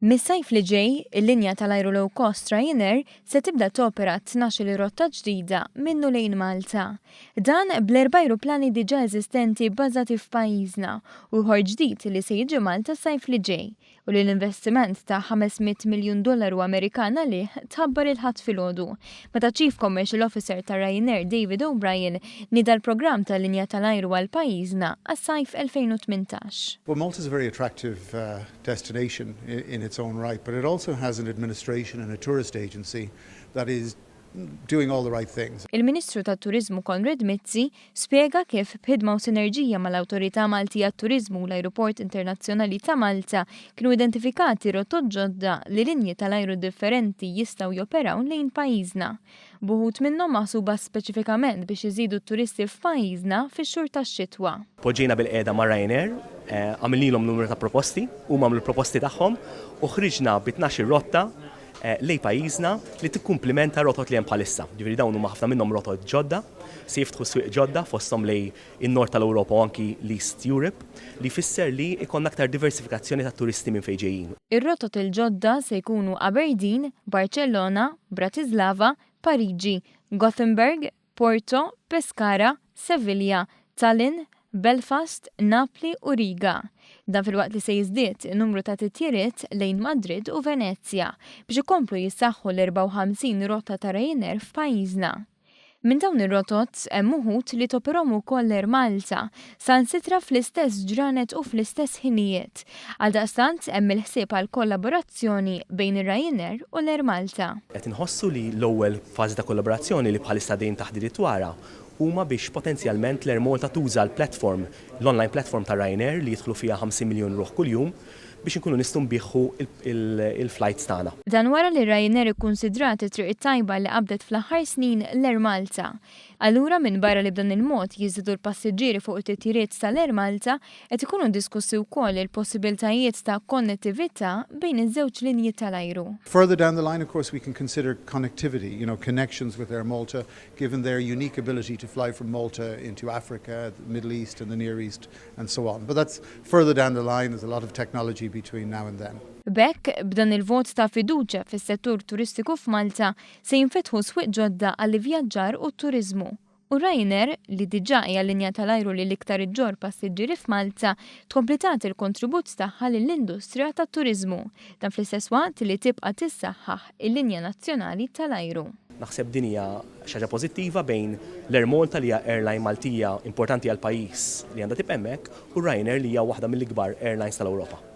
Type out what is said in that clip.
Mis-sajf li ġej, il-linja tal-ajru low cost Ryanair se tibda topera 12 rotta ġdida minnu lejn Malta. Dan bl-erba' ajruplani diġà eżistenti bbażati f'pajjiżna u ieħor ġdid li se jiġi Malta s-sajf li ġej, u li l-investiment ta' 500 miljun dollaru Amerikan għalih tħabbar il-Ħadd filgħodu, meta Chief Commercial Officer ta' Ryanair David O'Brien nieda l-programm ta' linja tal-ajru għal pajjiżna għas-sajf 2018. Well Malta is a very attractive destination in its own right but it also has an administration and a tourist agency that is doing all the right things. Il-Ministru tat-Turiżmu Konrad Mizzi Spjega kif, b'ħidma u sinerġija mal-Awtorità Malti għat-Turiżmu u l-Ajruport Internazzjonali ta' Malta, kienu identifikati rotot ġodda li linji tal-ajru differenti jistgħu joperaw lejn pajjiżna, b'uħud minnhom maħsuba speċifikament biex iżidu t-turisti f'pajjiżna fix-xhur tax-xitwa. Poġġejna bilqiegħda ma' Ryanair, għamilnilhom numru ta' proposti, huma għamlu l-proposti tagħhom u ħriġna bi tnax-il rotta lejn pajjiżna li tikkumplimenta r-rotot li hemm bħalissa. Jiġifieri dawn huma ħafna minnhom rotot ġodda, se jiftħu swieq ġodda fosthom lejn in-Nord tal-Ewropa u anki l-East Europe, li jfisser li jkollna aktar diversifikazzjoni tat-turisti minn fejn ġejjin. Ir-rotot il-ġodda se jkunu Aberdeen, Barċellona, Bratislava, Pariġi, Gothenburg, Porto, Pescara, Sevilla, Tallinn, Belfast, Napli u Riga. Dan filwaqt li se jiżdied in-numru ta' titjiriet lejn Madrid u Venezja biex ikomplu jissaħħu l-54 rotta ta' Ryanair f'pajjiżna. Minn dawn ir-rotot hemm uħud li toperhom ukoll Air Malta, sansitra fl-istess ġranet u fl-istess ħinijiet. Għaldaqstant, hemm il-ħsieb għal kollaborazzjoni bejn ir-Ryanair u l-Air Malta. Qed inħossu li l-ewwel fażi ta' kollaborazzjoni li bħalissa għaddejjin taħdiriet dwarha huma biex potenzjalment l-Air Malta tuża l-platform, l-online platform ta' Ryanair li jidħlu fiha 50 miljun ruħ kuljum biex inkunu nistgħu nbiħħu l-flights tagħna. Dan wara li Ryanair ikkunsidrat it-triq it-tajba li qabdet fl-aħħar snin l-Air Malta. Allura, minbarra li b'dan il-mod jiżdiedu l-passiġġieri fuq it-titjiriet tal-Air Malta, qed ikunu diskussi wkoll il-possibiltajiet ta' konnettività bejn iż-żewġ linji tal-ajru. Further down the line, of course, we can consider connectivity, you know, connections with Air Malta, given their unique ability to fly from Malta into Africa, the Middle East and the Near East and so on. But that's further down the line, there's a lot of technology between now and then. B'hekk, b'dan il-vot ta' fiduċja fis-settur turistiku f'Malta, Se jinfetħu swieq ġodda għall-ivvjaġġar u t-turiżmu, u Ryanair, li diġà hija l-linja tal-ajru li l-iktar iġġorr passiġġieri f'Malta, tkompli tagħti l-kontribut tagħha lill-industrija tat-turiżmu, dan fl-istess waqt li tibqa' tissaħħaħ il-linja nazzjonali tal-ajru. Naħseb din hija xi ħaġa pożittiva bejn l-Air Malta li hija airline Maltija importanti għall-pajjiż li għandha tibqa' hemmhekk u Ryanair li hija waħda mill-ikbar airlines tal-Ewropa.